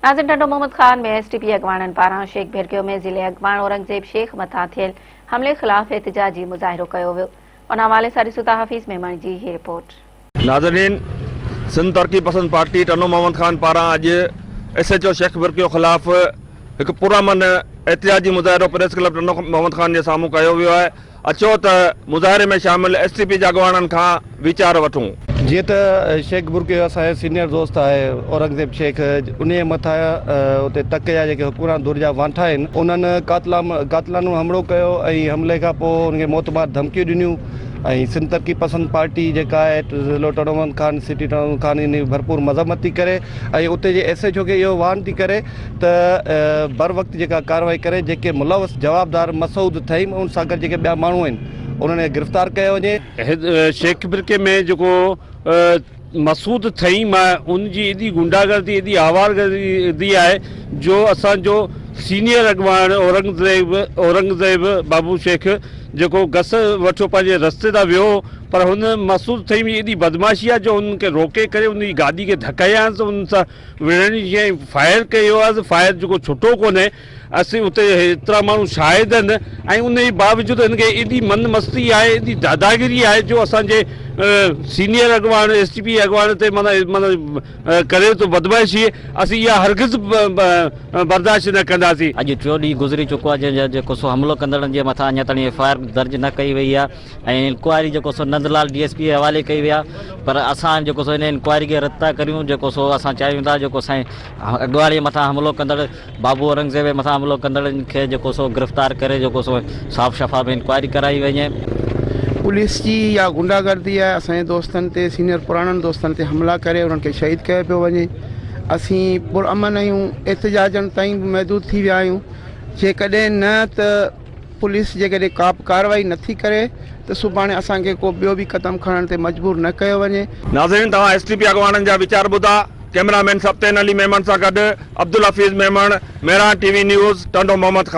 ناظم Tando Muhammad Khan ۾ S T P اڳواڻن پاران شيخ ڀيرڪيو ۾ ضلعي اڳواڻ اورنگزيب شيخ مٿان ٿيل حملي خلاف احتجاجي مظاهرو ڪيو ويو ان حوالي سان ڏسو ٿا حفيظ ميمڻ جي هي رپورٽ. ناظرين سنڌ ترقي پسند پارٽي ٽنڊو محمد خان پاران اڄ S H O Sheikh Bhirkio خلاف هڪ پرامن احتجاجي مظاهرو پريس ڪلب ٽنڊو محمد خان جي سامهون ڪيو ويو آهي اچو ته مظاهري ۾ شامل ايس ٽي پي جي اڳواڻن کان ويچار وٺون. جيئن ته شيخ برڪي اسان جو سينئر دوست آهي اورنگزيب شيخ انهيء مٿان اتي تڪ جا جيڪي حڪمران ڌر جا وانٺا آهن انهن قاتلانو حملو ڪيو ۽ حملي کان پوء انهن کي موت مار ڌمڪيون ڏنيون ۽ سنڌ ترقي پسند پارٽي جيڪا آهي ضلعو ٽنڊو ملڪان سٽي ٽنڊو ملڪان انهي جي ڀرپور مذمت ٿي ڪري ۽ اتي جي ايس ايڇ او کي اهو واھن ٿي ڪري ته بر وقت جيڪا ڪارروائي ڪري جيڪي ملوث جوابدار مسعود ٿهيم ۽ ان سان گڏ جيڪي ٻيا ماڻهو آهن انهن کي گرفتار ڪيو وڃي. شيخ برڪي ۾ جيڪو مسعود ٿهيم آهي ان جي ايڏي غنڊا گردي ايڏي آوار گردي آهي جو اسان جو سينيئر اڳواڻ اورنگزيب اورنگزيب بابو شيخ جيڪو گس وٺيو پنهنجي رستي تان ويو پر هن مسعود ٿهيم جي ايڏي بدمعاشي آهي جو ان کي روڪي ڪري ان جي گاڏي کي ڌڪيائينس ان سان وڙهڻي جي ۽ فائر ڪئي هئا ته فائر جيڪو ڇٽو ڪونهي اسين اتي ايترا ماڻهو شاهد آهن ۽ ان جي باوجود هن کي ايڏي من مستي آهي ايڏي داداگيري آهي جو اسان جي سينيئر اڳواڻ ايس ٽي پي اڳواڻ تي معنيٰ معنيٰ ڪري ٿو بدمعاشي اسين اها هرگز برداشت نه ڪنداسين. اڄ ٽيون ڏينهن گذري چڪو آهي جنهن جا جيڪو سو حملو ڪندڙن جي مٿان اڃا تائين ايف آء آر درج نه ڪئي وئي آهي. ۽ انڪوائري جيڪو سو نندلال ڊي ايس پي جي حوالي ڪئي وئي آ پر اسان جيڪو سو ان انڪوائري کي رد ٿا ڪريون جيڪو سو اسان چاهيون ٿا جيڪو سائين اڳواڻ جي مٿان حملو ڪندڙ بابو اورنگزيب جي مٿان حملو ڪندڙن کي جيڪو سو گرفتار ڪري جيڪو سو صاف شفاف انڪوائري ڪرائي وڃي. پوليس جي اها غنڊا گردي آهي اسان جي دوستن تي سينئر پراڻن دوستن تي حملا ڪري انهن کي شهيد ڪيو پيو وڃي اسين پرامن آهيون احتجاجن تائين به محدود ٿي ويا آهيون جيڪڏهن نه ته پوليس جيڪڏهن ڪا به ڪارروائي نه ٿي ڪري ته سڀاڻي اسان کي ڪو ٻيو به قدم کڻڻ تي مجبور نه ڪيو وڃي. ناظرين توهان ايس ٽي پي اڳواڻن جا ويچار ٻڌا، ڪئميرا مين سبطين علي ميمڻ سان گڏ Abdul Hafeez Memon, Mehran T V news, Tando Muhammad Khan.